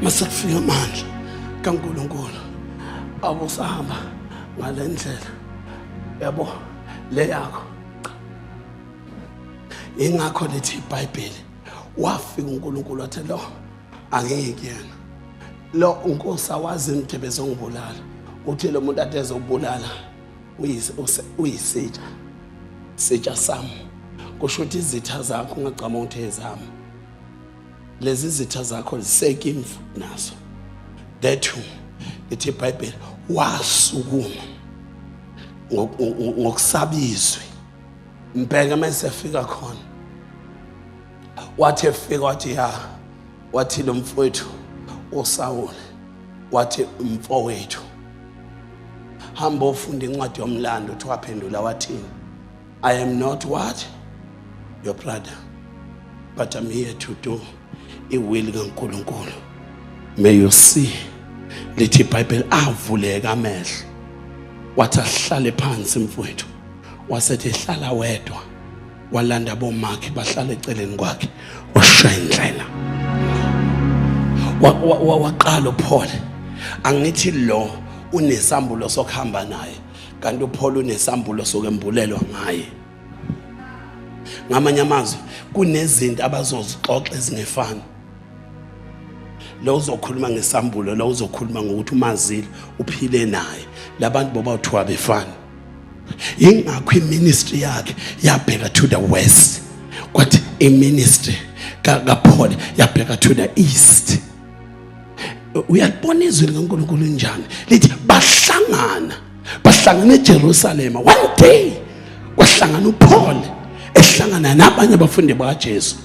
mase kufika amandla kaNkulunkulu abusahamba ngalendlela yabo leyakho ingakho lithi iBhayibheli wafika uNkulunkulu wathi lo angiyiki yena lo uNkosi awazi imdebe zongibulala uthi lo muntu ade ezobulala uyisitsha sitsha sami kusho ukuthi izitha zakho ungagcama ukuthi ezami lezi zitha zakho ziseke imvu nazo that who lithi ibhayibheli wasukuma ngokusaba izwi mbheke uma esefika khona wathi efika wathi ya wathi lo mfowethu usawule wathi mfowethu hamba ofunda incwadi yomlando uthi waphendula wathini I am not what? Your brother. But I'm here to do a will kaNkulunkulu. May you see lithi iBhayibheli avuleka amehlo. Wathi ahlale phansi mfowethu. Wasethi hlala wedwa. Walanda bomakhe bahlale eceleni kwakhe. Washaya indlela. Waqala uphole. Angithi lo unesambulo sokuhamba naye. kanti uPaul unesambulo sokwembulelwa ngaye ngamanye amazwi kunezinto abazozixoxa ezingefani lo uzokhuluma ngesambulo lo uzokhuluma ngokuthi umazile uphile naye labantu boba uthiwa befana ingakho iministry yakhe yabheka to the west kwathi iministry kaPaul yabheka to the east uyalibona izwi likaNkulunkulu njani lithi bahlangana bahlangana eJerusalema one day kwahlangana uPaul ehlangana nabanye abafundi bakaJesu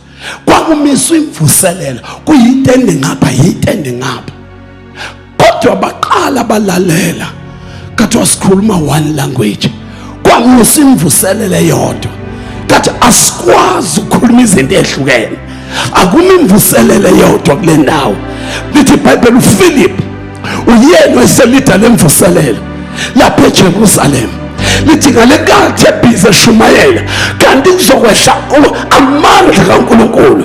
kwakumiswa imvuselelo kuyitende ngapha yitende ngapha kodwa baqala balalela kathi wasikhuluma one language kwakusimvuselele yodwa kathi asikwazi ukukhuluma izinto ezihlukene akumi imvuselele yodwa kule ndawo lithi ibhayibheli uphilip uyena eselida lemvuselelo lapha ejerusalema lithi ngale kathi ebhizi eshumayela kanti kuzokwehla amandla kankulunkulu